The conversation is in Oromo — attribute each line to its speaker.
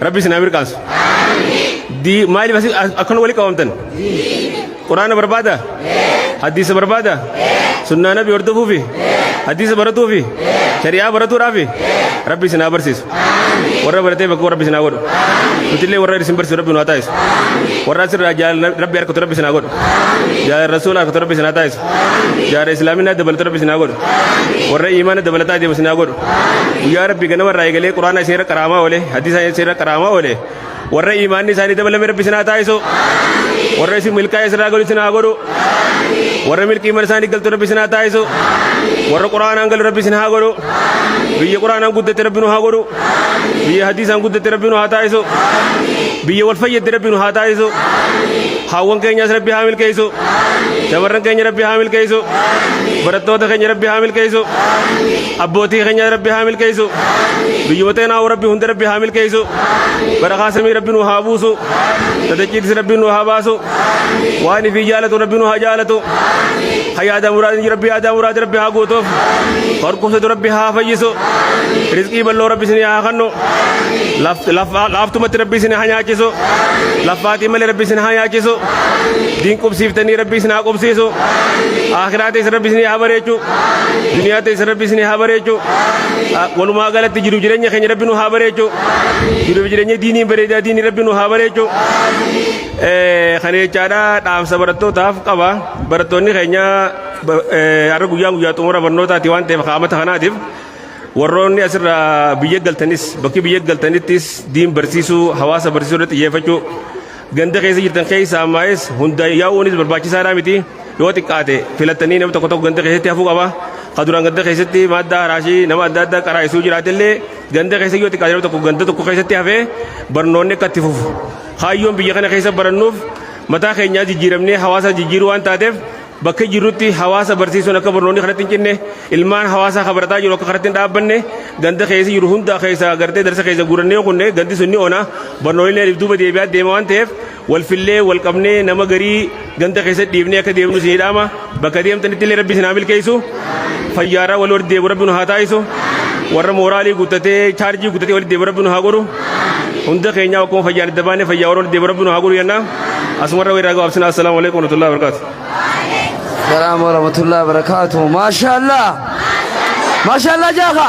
Speaker 1: Rabbi isin haa mirqaansu. Dii maaliif asi- as- akkana wali qabamtan? Quraana barbaada? Hadiisa barbaada? Sunnaa nabi hordofuufi? Hadiisa baratuufi? Shari'aa baratuudhaafi? Rabbi isin haa barsiisu. Warra baratee bakka rabbi isin haa godhu. Nutillee warra isin barsiisu rabbi nu haa taasisu. Warra asirraa jaalala rabbi harkatu rabbi isin haa godhu. Jaalala rasuula harkatu rabbi isin haa taasisu. Jaalala islaaminaa dabalatu rabbi isin haa godhu. Warra iimaana dabalataa deemu isin haa godhu. guyyaa rabbi ganama irraa eegalee quraana isin irra qaraamaa oole hadiisa isin irra qaraamaa oole warra imaanni isaanii dabalame rabbi isin haa taasisu warra isin milkaa'e isin irraa galu isin haa godhu warra milkii mana isaanii galtu rabbi isin haa taasisu warra quraanaan galu rabbi isin haa godhu biyya quraanaan guddatte rabbi nu haa godhu biyya hadiisaan guddatte rabbi nu haa taasisu biyya wal fayyadde rabbi nu haa taasisu haawwan keenyas rabbi haa milkeessu shamarran keenya rabbi haa milkeessu barattoota keenya rabbi haa milkeessu abbootii keenya rabbi haa milkeessu biyyuma teenaa rabbi hunda rabbi haa milkeessu barakaa samii rabbi nu haa buusu tadachiitis rabbi nu haa baasu waan ifii jaalatu rabbi nu haa jaalatu hayaadaa muraadni rabbi yaadaa muraadni rabbi haa guutuuf horkumsatu rabbi haa fayyisu rizqii bal'oo rabbi isin haa kennu laaftumatti rabbi isin haa nyaachisu laffaatii malee rabbi isin haa nyaachisu diin qubsiiftanii rabbi isin haa qubsiisu akiraatis rabbi isin haa bareechu duniyaa teessa rabbi isin haa bareechu walumaa galatti jiru jireenya keenya rabbi nu haa bareechu jiru jireenya diinii bareedaa diinii rabbi nu haa bareechu kan jechaadha dhaamsa barattootaaf qaba barattoonni keenya har'a guyyaan guyyaa xumura barnootaati waan ta'eef qaamata kanaatiif warroonni asirraa biyya galtanis bakki biyya galtanittis diin barsiisuu hawaasa barsiisuu irratti xiyyeeffachuu Ganda keessa jirtan keessa ammaayis hunda yaa'uunis barbaachisaadhaa miti yoo xiqqaate filattanii nama tokko tokko ganda keessatti hafuu qaba. Ka duraan ganda keessatti madda haraashii nama adda addaa qaraa'isuu jiraatellee ganda keessa yoo xiqqaate nama tokko ganda tokko keessatti hafee barnoonni akka itti fufu. Kaayyoon biyya kana keessa barannuuf mataa keenyaa jijjiiramnee hawaasa jijjiiruu waan taateef Bakka jirrutti hawaasa barsiisuun akka barnoonni kanatti hin cinne ilmaan hawaasaa kan barataa jiru akka kanatti hin dhaabbanne ganda keessa jiru hunda keessa gartee darsa keessa guurannee kunne gandi sun ni ona barnoollee if duuba deebi'aa deema waan ta'eef wal fillee wal qabnee nama garii ganda keessa dhiibnee akka deemnu isin hidhaama bakka deemtanitti illee rabbi isin haa milkeessu. fayyaarraa wal walitti deebi'u rabbi nu haa taasisu warra mooraalii guddatee chaarjii guddatee walitti deebi'u rabbi nu haa godhu hunda keenyaa akkuma fayyaan adda baanee fayyaa warra walitti deebi'u rabbi nu haa godhu jennaa asumarra weerraa gabaabsinaa assalaamu alaikum warahmatullahi wabarakatuh.
Speaker 2: Salaam warahmatullahi wabarakatuh. Maashaallah. Maashaallah jaaha.